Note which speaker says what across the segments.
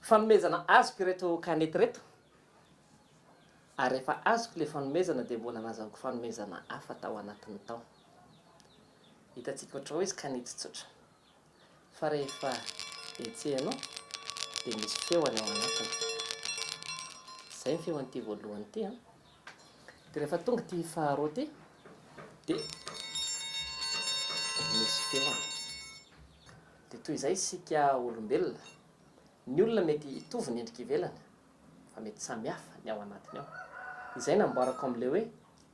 Speaker 1: Fanomezana azoko ireto kanety ireto ary efa azoko ilay fanomezana dia mbola nazahoko fanomezana hafa tao anatiny tao. Hitantsika ohatra hoe izy kanety tsotra fa rehefa hetsehana ao dia misy feo any ao anatiny. Izay ny feon'ity voalohany ity an. Dia rehefa tonga ity faharoa ity dia misy feony. Dia toy izay isika olombelona, ny olona mety hitovy ny endrika ivelany fa mety samihafa ny ao anatiny ao. Izay no amboarako amin'ilay hoe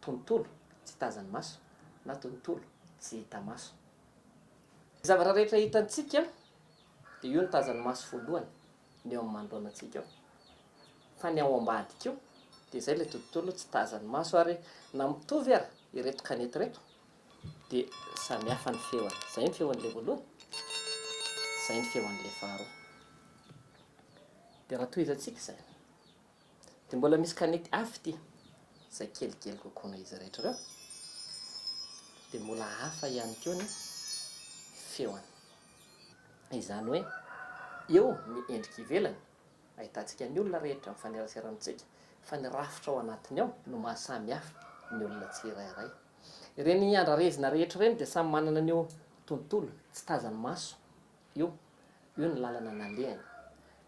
Speaker 1: tontolo tsy tazan'ny maso na tontolo tsy hita maso. Ny zavatra rehetra hitantsika dia io no tazan'ny maso voalohany. ny eo amin'ny manoloanantsika eo fa ny ao ambadika eo dia izay ilay tontolo tsy tazan'ny maso ary na mitovy ary ireto kanety ireto dia samy hafa ny feony. Izay ny feon'ilay voalohany, izay ny feon'ilay faharoa. Dia raha tohizantsika izay. Dia mbola misy kanety hafa ity, izay kelikely kokoa noho izy rehetra ireo. Dia mbola hafa ihany koa ny feony. Izany hoe eo ny endrika ivelany, ahitantsika ny olona rehetra mifanerasera amintsika, fa ny rafitra ao anatiny ao no mahasamy hafa ny olona tsirairay. Ireny andrarezina rehetra ireny dia samy manana an'io tontolo tsy tazan'ny maso Io, io ny lalana nalehany,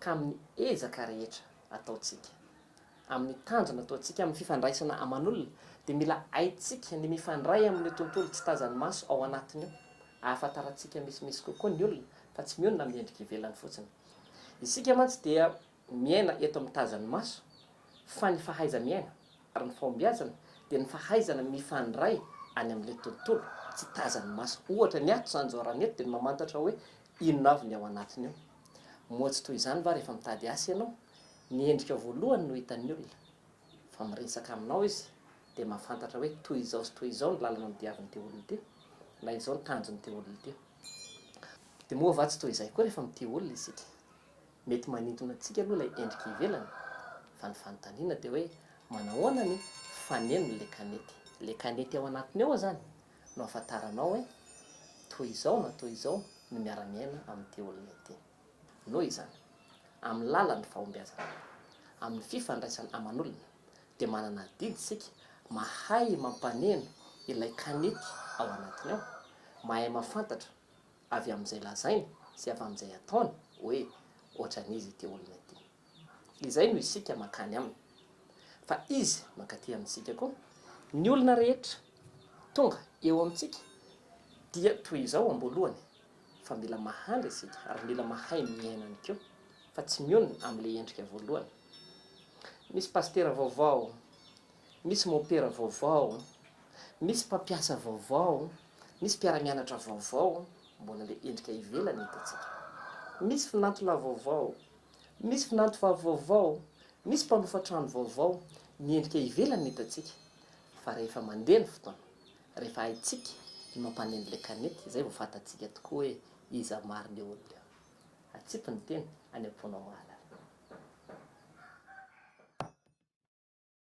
Speaker 1: ka amin'ny ezaka rehetra ataontsika, amin'ny tanjona ataontsika, amin'ny fifandraisana aman'olona, dia mila haintsika ny mifandray amin'io tontolo tsy tazan'ny maso ao anatiny io, ahafantarantsika misimisy kokoa ny olona, fa tsy mionona amin'ny endrika ivelany fotsiny. Isika mantsy dia. Miaina eto amin'ny tazan'ny maso, fa ny fahaiza-miaina ary ny fahombiazana dia ny fahaizana mifandray any amin'ilay tontolo tsy tazan'ny maso. Ohatra, ny ato izany izao raha ny eto dia ny mamantatra hoe inona avy ny ao anatiny ao. Moa tsy toy izany va rehefa mitady asa ianao? Ny endrikao voalohany no hitan'ny olona. Fa miresaka aminao izy dia mahafantatra hoe toy izao sy toy izao ny lalana nodiavin'ity olona ity, na izao ny tanjon'ity olona ity. Dia moa va tsy toy izay koa rehefa mitia olona isika? Mety manintona antsika aloha ilay endrika ivelany fa ny fanontaniana dia hoe manahoana ny fanenon'ilay kanety? Ilay kanety ao anatiny ao izany no ahafantaranao hoe toy izao na toy izao ny miara-miaina amin'ity olona ity. Noho izany, amin'ny lalan'ny fahombiazana, amin'ny fifandraisana aman'olona dia manana adidy isika mahay mampaneno ilay kanety ao anatiny ao, mahay mahafantatra, avy amin'izay lazainy sy avy amin'izay ataony hoe ohatran'iza ity olona ity. Izay no isika mankany aminy, fa izy mankaty amintsika koa. Ny olona rehetra tonga eo amintsika dia toy izao am-boalohany, fa mila mahandry isika ary mila mahay miaina ihany koa, fa tsy mionona amin'ilay endrika voalohany. Misy pasitera vaovao, misy mopera vaovao. Misy mpampiasa vaovao, misy mpiara-mianatra vaovao, mbola ilay endrika ivelany no hitantsika. Misy finantolahy vaovao, misy finantovavy vaovao, misy mpanofa trano vaovao, ny endrika ivelany no hitantsika fa rehefa mandeha ny fotoana, rehefa haintsika ny mampaneno ilay kanety izay vao fantatsika tokoa hoe iza marina io olona io. Atsipy ny teny, any am-ponao mahalala.